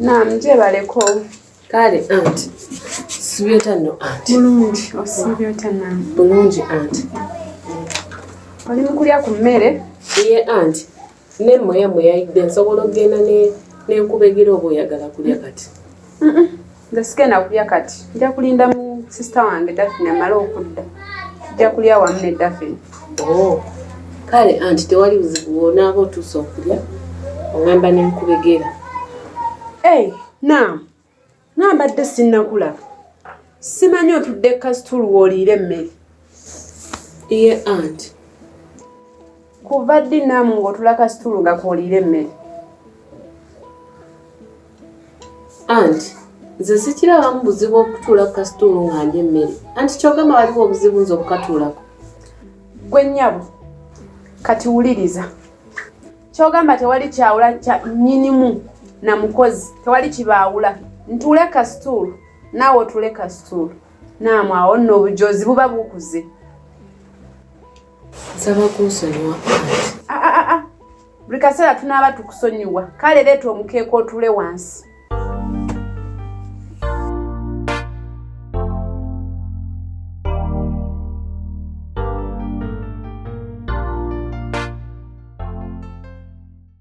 Naam, gyebaleko. Kale anti sibi otya nno anti? Bulungi, osiibye otya naam? Bulungi anti. Oli mu kulya ku mmere? Ye anti, ne mmoya mwe yayidde nsobola okugenda ne ne nkubegera oba oyagala kulya kati? Nze sigenda kulya kati, nja kulinda mu sisita wange Dafini amale okudda, tujja kulya wamu ne Dafini. Oh, kale anti tewali buzibu bwonaaba otuuse okulya oŋamba ne nkubegera. Ei, naam, naambadde sinnakulaba, simanyi otudde kasituulu w'oliira emmere. iye ant kuva ddi naamu ng'otula kasituulu nga kooliira emmere anti nze sikirabamu buzibu okutuula ku kasituulu nga ndi emmere anti kyogamba waliwo obuzibu nze okukatuulako gwe nnyabo kati wuliriza kyogamba tewali kyawula kya nnyinimu na mukozi tewali kibaawula ntuule kasituulu naawe otuule kasituulu naamwe awo nno obujozi buba bukuze nsaba kunsonyiwa ah, ah, ah, buli kaseera tunaaba tukusonyiwa kale leeta omukeeka otule wansi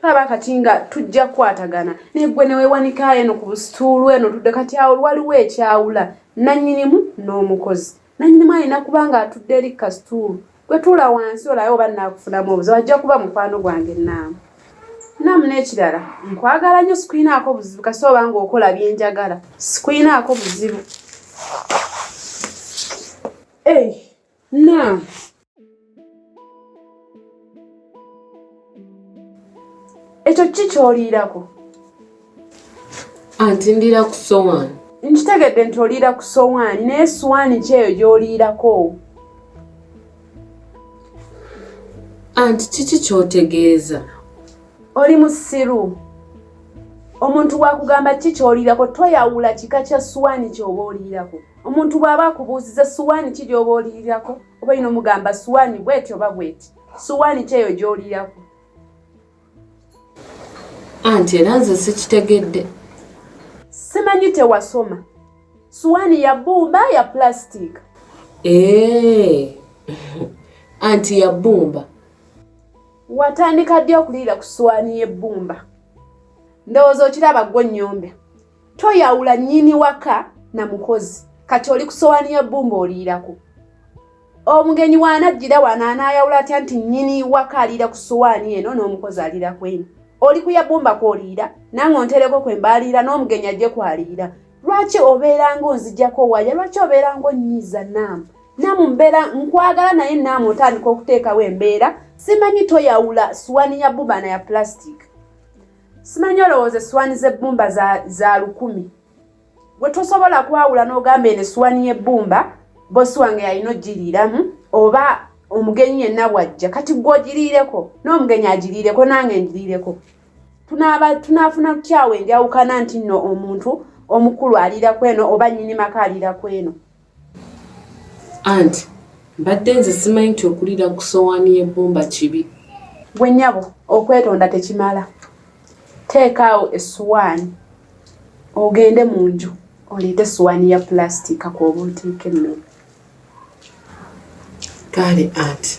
tulaba kati nga tujja kukwatagana naye gwe newewanika eno ku busituulu eno tudde kati awo waliwo ekyawula nanyinimu n'omukozi nanyinimu alina kuba nga atudde eri kasituulu gwetuula wansi olabe oba nakufunamu obuzibu ajja kuba mukwano gwange naamu naamu n'ekirala nkwagala nnyo sikulinaako buzibu kasi oba nga okola byenjagala sikulinaako buzibu Naam. Ekyo ki kyoliirako? Anti ndiira ku sowaani. Nkitegedde nti oliira ku sowaani naye sowaani ki eyo gy'oliirako? Anti kiki ky'otegeeza? Oli musiru. Omuntu wakugamba ki ky'oliirako toyawula kika kya sowaani ky'oba oliirako. omuntu bw'aba akubuuziza suwaani ki gy'oba olirirako oba yina omugamba suwaani bweti oba bweti suwaani ki eyo gy'olirirako anti era nze sikitegedde simanyi tewasoma suwaani ya bbumba ya pulasitiika ee anti ya bbumba watandika ddi okuliira ku suwaani y'ebbumba ndowooza okiraba ggwo nnyombe toyawula nyini waka na mukozi kati oli kusowani ya bumba oliirako omugenyi wanajjira wano anayawula atya nti nyini waka aliira ku sowani eno n'omukozi aliira kweno oli kuyabumba kwoliira nange ontereko kwe mbaaliira n'omugenyi ajje kwaliira lwaki obeeranga onzijako waya lwaki obeeranga onyiiza naamu naamu mbeera nkwagala naye naamu otandika okuteekawo embeera simanyi toyawula suwani ya bubana ya plastic simanyi olowooza essuwaani z'ebbumba za, za lukumi gwe tosobola kwawula n'ogamba eno essuwaani y'ebbumba bosi wange yalina ogiriiramu oba omugenyi yenna bwajja kati gwe ogiriireko n'omugenyi agiriireko nange ngiriireko tunaafuna tutyawo enjawukana nti nno omuntu omukulu aliira kweno oba nnyini maka aliira kweno Aunt mbadde nze simanyi nti okulira ku sowaani y'ebbumba kibi. Gwe nyabo okwetonda tekimala. Teeka awo essuwaani ogende mu nju oleete essuwaani ya pulasitiika kw'oba oteeka emmere. Kaale anti.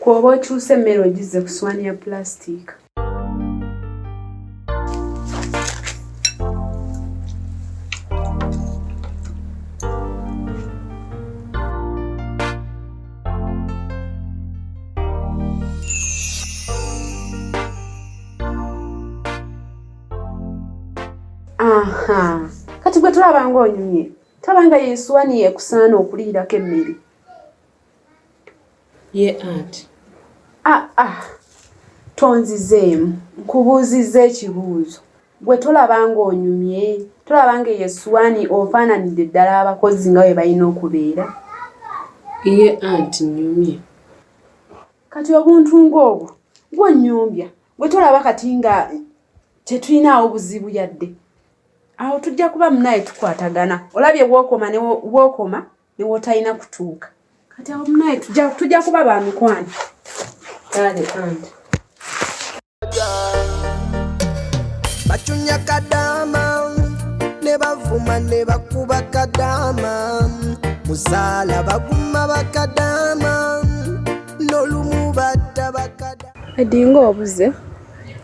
Kwoba okyusa emmere ogizze ku swaani ya pulaasitiika. Aha. Kati gwe tulaba ng'onyumye. Taba nga yeesuwaniye ekusaana okuliirako emmere. ye anti ah, ah. tonzizeemu nkubuuzizza ekibuuzo gwe tolaba ng'onyumye tolaba nga eyo essuwaani ofaananidde ddala abakozi nga bwe balina okubeera ye anti nyumye kati obuntu ng'obwo gwonnyumbya gwe tolaba kati nga tetulinaawo buzibu yadde awo tujja kuba munaaye tukwatagana olabye wookoma ne wookoma newotalina kutuuka kati awo munaye tujja kuba ba mikwano kale anti bacunya kadama ne bavuma ne bakuba kadama muzaala baguma bakadama nolumu batta bakadama edinga obuze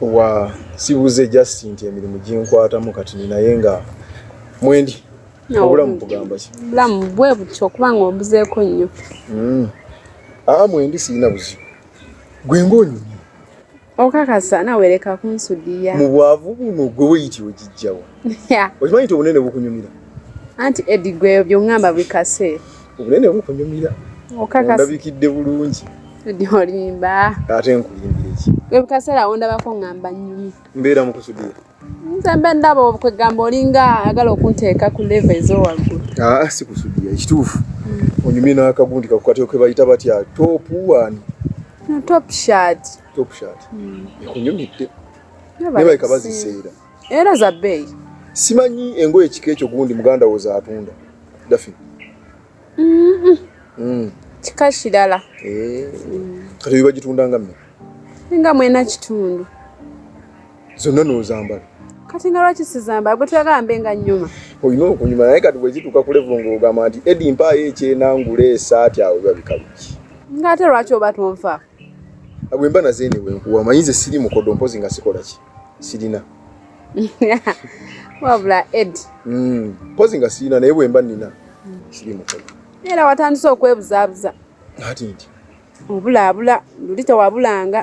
wa sibuze just nti emirimu ginkwatamu kati ninaye nga mwendi obulamu bugamba ki bulamu bwe butyo okuba nga ombuzeeko nnyo hmm. aa mwendi sirina buzibu gwe ngaonyumye okakasa nawe leka kunsudiya mu bwavu buno gwe weyiti ogijjawa okimanyi ti obunene bukunyumira anti edi gwe byongamba bikase obunene bukunyumira okakasabikidde bulungi edi olimba ate nkulimbireki ebikasera wondabako ngamba nyumi mbeera mukusudiya nze mbe ndaba okwegamba olinga ayagala okunteeka ku leve ezowaggulu ah, sikusudiya ekituufu hmm. onyumye n'akagundi kakukateo ke bayita batya topu wani top shat top shat hmm. ekunyumidde nebaleka baziseera era za bbeeyi simanyi engoye ekika ekyo gundi muganda wo zaatunda dafi hmm. kika kirala eh. kati bibagitunda nga mme nga mwena kitundu zonna n'ozambala kati nga lwaki sizambala gwe tuyagambe nga nyuma olina okunyuma naye kati bwezituuka ku levu ng'ogamba nti edi mpaayo ekyenangula esaati awo biba bikaluki ng'ate lwaki oba tonfa bwe mba naze ene wenkuwa manyi nze siri mukodo mpozi nga sikola ki sirina wabula ed hmm, mpozi nga sirina naye bwe mba nina siri mukodo era watandise okwebuzabuza ati nti obulaabula luli tewabulanga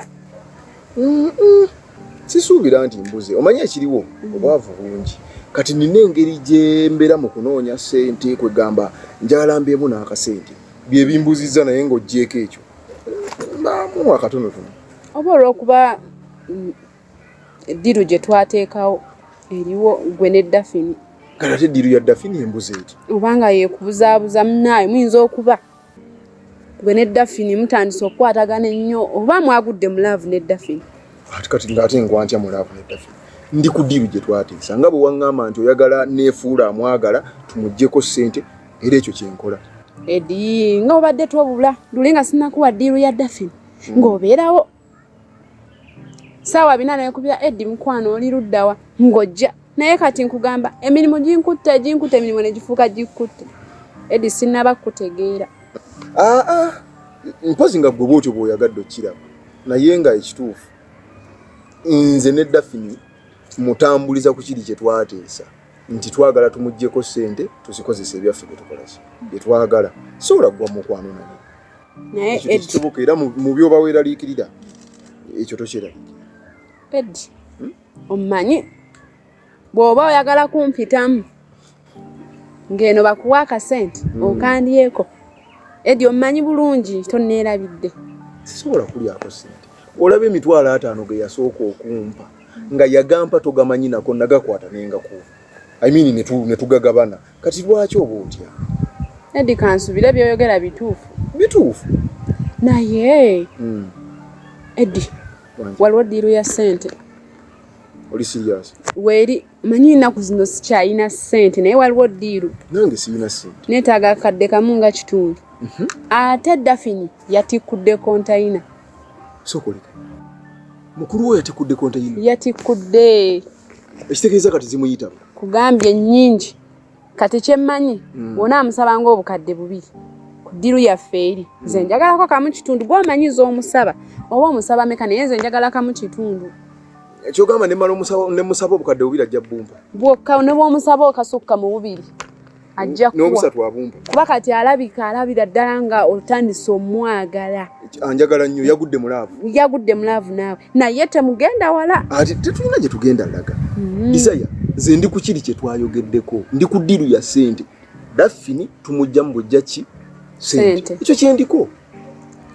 sisuubira nti mbuze omanyi ekiriwo mm. obwavu bungi kati nina engeri gyembeera mu kunoonya sente kwegamba njagala mbeemu n'akasente byebimbuzizza naye ng'ogyeko ekyo mbaamu akatonotono oba olwokuba mm, eddiru gye twateekawo eriwo gwe ne dafini kati ate eddiru ya dafini embuze eti obanga yekubuzaabuza munaayo muyinza okuba gwe ne dafini mutandise okukwatagana ennyo oba mwagudde mu laavu ne dafini ati kati ngaate nkwantya mu laavu ne dafini ndi ku diiru gye twateesa nga bwe waŋŋamba nti oyagala neefuula amwagala tumugyeko ssente era ekyo kye nkola edi nga obadde twobula luli nga sinakuwa diiru ya dafini hmm. ng'obeerawo saawa bina nekubira edi mukwano oli luddawa ngojja naye kati nkugamba emirimu ginkutte ginkutte emirimu negifuuka gikutte edi sinaba kukutegeera aa ah, ah. mpozi nga gwe bwotyo bwoyagadde okukiraba naye nga ekituufu nze ne dafini mutambuliza ku kiri kye twateesa nti twagala tumuggyeko ssente tuzikozesa ebyaffe bye tukolaki bye twagala sobola kugwa mukwano naye nayekisoboka era mu byoba weeraliikirira ekyo tokyeraliikira ed hmm? omumanyi bw'oba oyagala kumpitamu ng'eno bakuwa akasente hmm. okandyeko edi omumanyi bulungi tonneerabidde sisobola kulyako sente olaba emitwalo ataano ge yasooka okumpa nga yagampa togamanyi nako nagakwata nengakuwa I mean netu netugagabana kati lwaki oba otya Edi kansubire byoyogera bituufu bituufu naye mm. Edi waliwo diiru ya sente oli serious weri manyi ennaku zino sikyalina ssente naye waliwo ddiiru nange sirina ssente neetaaga akadde kamu nga kitundu mhm. ate dafini yatikkudde kontayina sokoleka mukulu wo yatikkudde kontayina yatikkudde ekitegeeza kati zimuyitaba kugambye nnyingi kati kyemmanyi mm. wona amusaba nga obukadde bubiri ku ddiru yaffe eri mm. nze njagalako kamu kitundu gwamanyiza omusaba oba omusaba meka naye nze njagala kamu kitundu ekyogamba nemusaba obukadde bubiri ajja bumpa bwokka ne bwomusaba okasukka mu bubiri ajja kuba kati alabika alabira ddala nga otandise omwagala anjagala nnyo yagudde mulaavu yagudde mulaavu naawe naye temugenda wala ati tetulina gye tugenda laga mm. isaya nze ndi ku kiri kye twayogeddeko ndi ku ddiiru ya sente daffini tumujja mu bujja ki sente ekyo kyendiko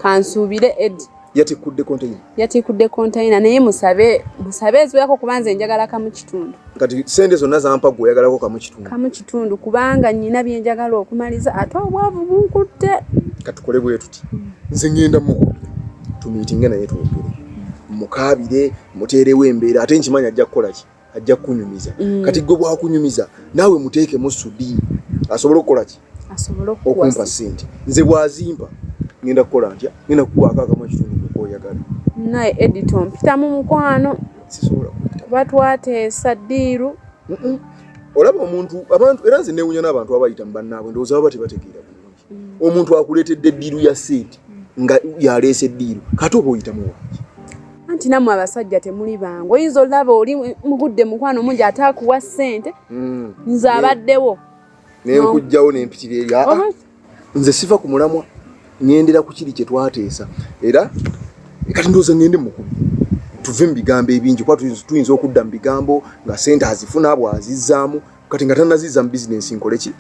kansuubire edi yatikudde konteyina yatikudde konteyina naye musabe musabe eziwerako kuba nze njagala kamu kitundu kati sente zonna zampa gwe oyagalako kamu kitundu kamu kitundu kubanga nyina byenjagala okumaliza ate obwavu bunkutte katukole bwe tuti hmm. nze ngenda mu tumiitinge naye twogere mukaabire muteerewo embeera ate nkimanyi ajja kukola ki ajja kukunyumiza hmm. kati gwe bwakunyumiza naawe muteekemu sudi asobole okukola ki okumpa sente nze bwazimpa ngenda kukola ntya ngenda kukwako akamu ekitundu kukoyagala naye edito mpita mu mukwano sisobola kuba twateesa ddiiru olaba omuntu abantu era nze newunya n'abantu abayita mu bannaabwe ndowooza baba tebategeera bulungi mm. omuntu akuleetedde eddiiru ya sente nga yaleesa eddiiru kati oba oyitamu wangi anti namwe abasajja temuli bangu oyinza olaba oli mugudde mukwano mungi ataakuwa sente mm. nze abaddewo nenkujjawo nempitira eri aa nze siva ku mulamwa ngendera ku kiri kyetwateesa era kati ndowooza ngende mukubi tuve mu bigambo ebingi kuba tuyinza okudda mu bigambo nga sente azifuna bwazizzaamu kati nga tanazizza mu bizinensi nkole ki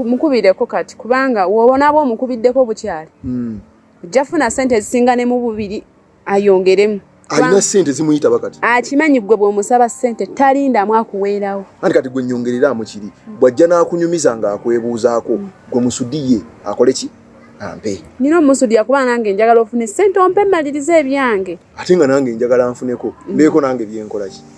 mukubireko kati kubanga wobonaaba omukubiddeko bukyali hmm. ojja funa sente ezisinga ne mu bubiri ayongeremu alina sente zimuyita bakati akimanyi gwe bwomusaba sente talindamu akuweerawo anti kati gwe nyongereramu kiri bwajja n'akunyumiza nga akwebuuzaako gwe musudiye akole ki ampe nina omusudi yakuba nange njagala ofune sente ompe malirize ebyange ate nga nange njagala nfuneko mbeeko nange byenkolaki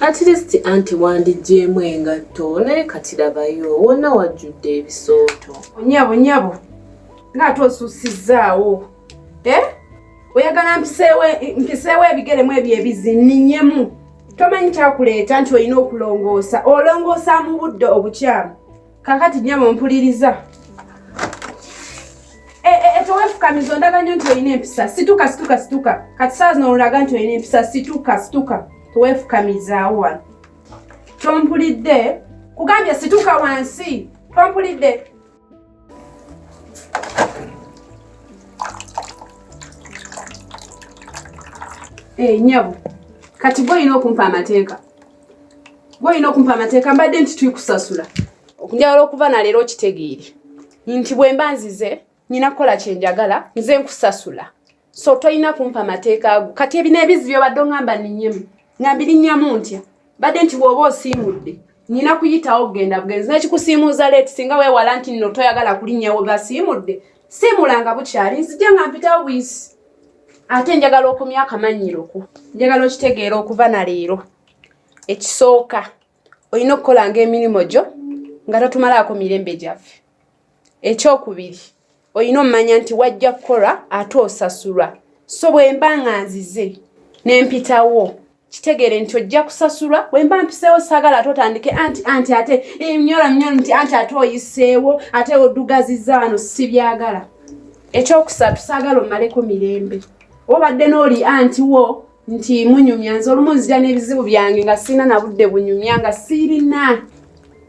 At least anti wandigyemu engatto naye kati labayo wonna wajjudde ebisooto. Onyabo nyabo ng'ate osuusizzaawo eh? oyagala mpiseewo ebigere mu ebyo ebizi ninyemu tomanyi kyakuleeta nti olina okulongoosa olongoosa mu budde obukyamu kakati nyama mpuliriza e, e, e, tewefukamiza ondaga nyo nti olina empisa situka situka situka kati saa zino olaga nti olina empisa situka situka tewefukamizaawo wano tompulidde kugambye situka wansi tompulidde enyabo eh, kati gwe olina okumpa amateeka gwolina okumpa amateeka mbadde nti tuikusasula njagala okuva naleero okitegeere nti bwemba nzize nyina kukola kyenjagala nze nkusasula so tolina kumpa amateeka ago kati ebina ebizi byobadde ongamba ninyemu ngambirinnyamu ntya badde nti bwoba osiimudde nyina kuyitawo kugenda bugenzi nekikusiimuuza leeti singa wewala nti nno toyagala kulinnyawo basiimudde siimulanga bukyali nzija nga mpitawo buyisi ate njagala okumya akamannyiro ko njagala okitegeera okuva na leero ekisooka olina okukolanga emirimu gyo nga totumalaako mirembe gyaffe ekyokubiri olina omumanya nti wajja kukola ate osasulwa so bwemba nga nzize nempitawo kitegeere nti ojja kusasulwa wemba mpiseewo sagala ate otandike anti anti ate emyolo eh, myolo nti anti ate oyiseewo ate odugaziza wano sibyagala ekyokusatu sagala omaleko mirembe obadde nooli anti wo nti munyumya nze olumu nzija n'ebizibu byange nga sirina nabudde bunyumya nga sirina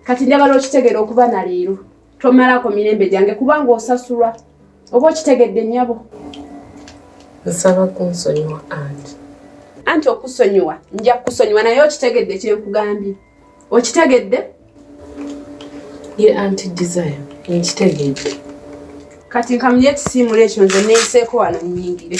kati njagala okitegeera okuba na leero tomalako mirembe gyange kubanga osasulwa oba okitegedde nyabo nsaba kunsonyiwa anti anti okusonyiwa nja kukusonyiwa naye okitegedde kyenkugambye okitegedde ye anti desire nkitegedde kati nkamulye ekisiimula ekyo nze neyiseeko wano nyingire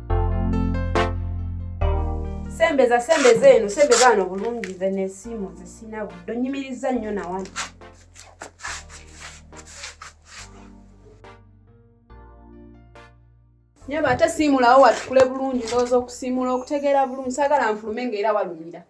sembeza sembeza eno sembeza wano bulungi ze nesiimu nze sina budde onyimirizza nnyo nawano nyaba ate siimulawo watukule bulungi ndowooza okusiimula okutegeera bulungi saagala nfulume nga era walumira